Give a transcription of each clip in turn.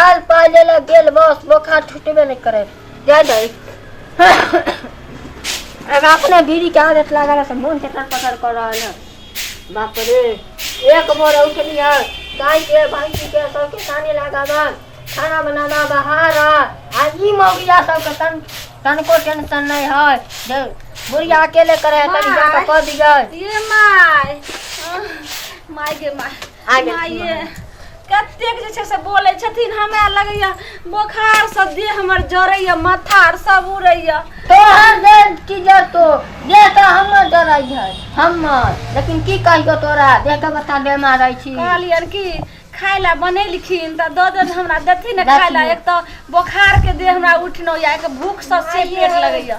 आयल पाइ ले लऽ गेल बस बोखार छुटबे नहि करे जाय दही अब अपने बीड़ी के आदत लागल है से मोन चटर पटर कर रहल है बाप रे एक बोर उठली है गाय के भैंसी के सबके सानी लगाबा खाना बनाबा बहार आ ई मौगिया सबके तन तनको टेंशन नहीं है जे बुढ़िया अकेले करे है तनी जाके कह दियै ये माय आह, माय गे माय आ गेल माये कतेक जे छै से बोलै छथिन हमरा लगैया बोखार से देह हमर जरैया माथा आर सब उड़ैया तोहर देह की जतो देह तऽ हमर जरै छै हमर लेकिन की कहियो तोरा देह के बता बेमार रहै छी कहलियन कि खाय ला बनेलखिन तऽ दऽ देन हमरा देथिन ने खाय ला एक तऽ बोखार के देह हमरा उठनो या एक भूख से से पेट लगैया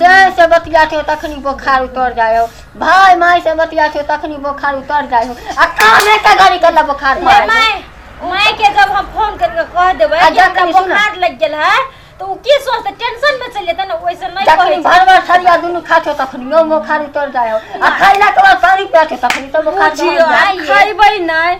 से से बतिया छौ तखनी बोखार उतर जाय हो भाय माय से बतिया छौ तखनी बोखार उतर जाय हो आ कामे के गाड़ी के बोखार मार माय माय के जब हम फोन करके कह देबै कि हमरा बोखार लग गेल है तो उ की सोचते टेंशन में चल जेते ना ओइसे नहीं कहै तखनी भर भर सरिया दुनु खा छौ तखनी यो बोखार उतर जाय हो आ खैला के बाद पानी पिया छौ तखनी तो बोखार उतर जाय खैबै नहीं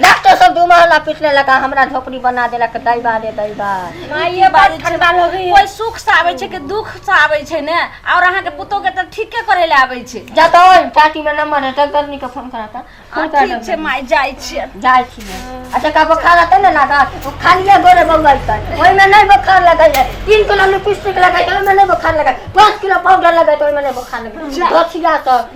लास्टो सब दू महला पिटने लगा हमरा झोपड़ी बना देलक दैबा रे दैबा माइये बात ठंडा लगी कोई सुख से आबै छै कि दुख से आबै छै ने और अहाँ के पुतो के त ठीके करे ले आबै छै जा तो चाटी में नंबर है डॉक्टरनी के फोन करा था फोन आ, करा ठीक छै माय जाइ छियै जाय छी अच्छा का बोखार रहते ने लगा वो खालिए गोरे बउआ इतन ओहि में नहीं बोखार लगै है तीन किलो लिपस्टिक लगै है ओहि में नहीं बोखार लगै पाँच किलो पाउडर लगै है ओहि में नहीं बोखार लगै है दोथिया सब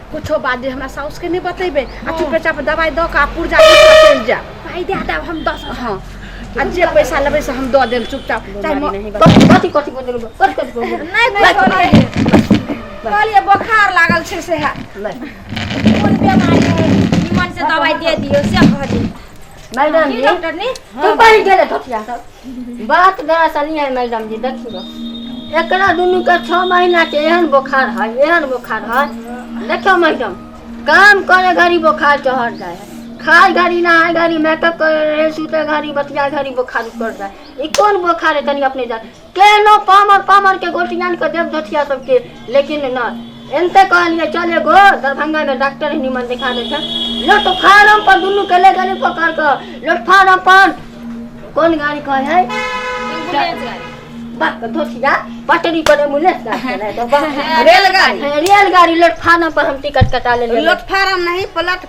कुछो बात जे हमरा साउस के नहीं बतेबे आ चुपे चाप दवाई द के आ पुर्जा ले के चल जा भाई दे दे हम दस हां आ जे पैसा लेबे से हम द देम चुपचाप चाहे म- नहीं कथी कथी कथी बोल देलु कथी कथी बोल देलु नहीं कुछो नहीं कहलिए बोखार लागल छै से है कोन बीमारी है निमन से दवाई दे दियो से कह दे मैडम जी डॉक्टर ने तू पढ़ गेले धोतिया सब बात दरअसल ई है मैडम जी देखियो एकरा दुनू के छह महीना के एहन बोखार है एहन बोखार है देखो मैडम काम करे घड़ी बोखार चढ़ जाए है खाए घड़ी नहाए घड़ी मेकअप करे रहे सुते घड़ी बतिया घड़ी बोखार उतर जाए ई कोन बोखार है तनी अपने जान केहनो पामर पामर के गोटियान के देव धथिया सबके लेकिन न एनते कहलिए चल एगो दरभंगा में डॉक्टर ही निमन दिखा दे छै लोट फार्म पर दुनू के ले गेली पकड़ के लोट फार्म पर कौन गाड़ी कहे है एम्बुलेंस गाड़ी बाप के धोसिया पटरी पर एम्बुलेंस ना चले तो बाप रेलगाड़ी रेलगाड़ी लोट फार्म पर हम टिकट कटा लेलिए लोट फार्म नहीं पलट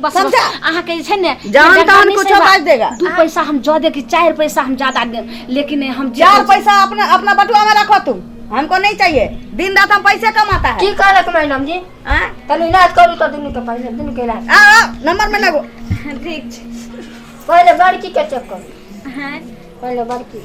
बस बस समझा? अहाँ के जे छै ने जान डंडा तहन नहि कुछो सेवा। बाजि देगा। दू पैसा हम जऽ दे कि चारि पैसा हम ज्यादा देब लेकिन हम जे- चार पैसा अपना अपना बटुआ में रखो तुम हमको नहीं चाहिए दिन रात हम पैसे कमाता है की कहलक मैडम जी हाँ? तनी इलाज करू तऽ दुनू के पहिले दुनू के इलाज आ, आ, नंबर में लगो ठीक छै पहिले बड़की के चेक करू हाँ पहिले बड़की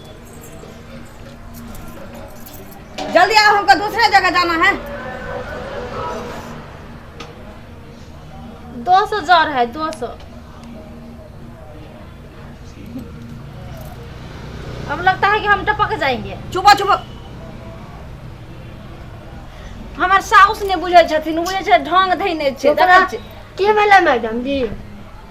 जल्दी आओ हमको दूसरे जगह जाना है दो सौ जर है दो सौ अब लगता है कि हम टपक जाएंगे चुपा चुपा हमार साउस ने बुझे छथिन बुझे छै ढंग धैने छै ओकरा देखै छियै? के भेलै मैडम जी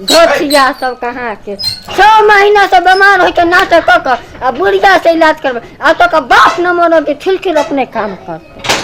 घटिया सब कहाँ के छह महीना से बीमार होके नाटक कऽ कऽ आ बुढ़िया से इलाज करबै आ तो का बाप न मनो के खिलखिल अपने काम करते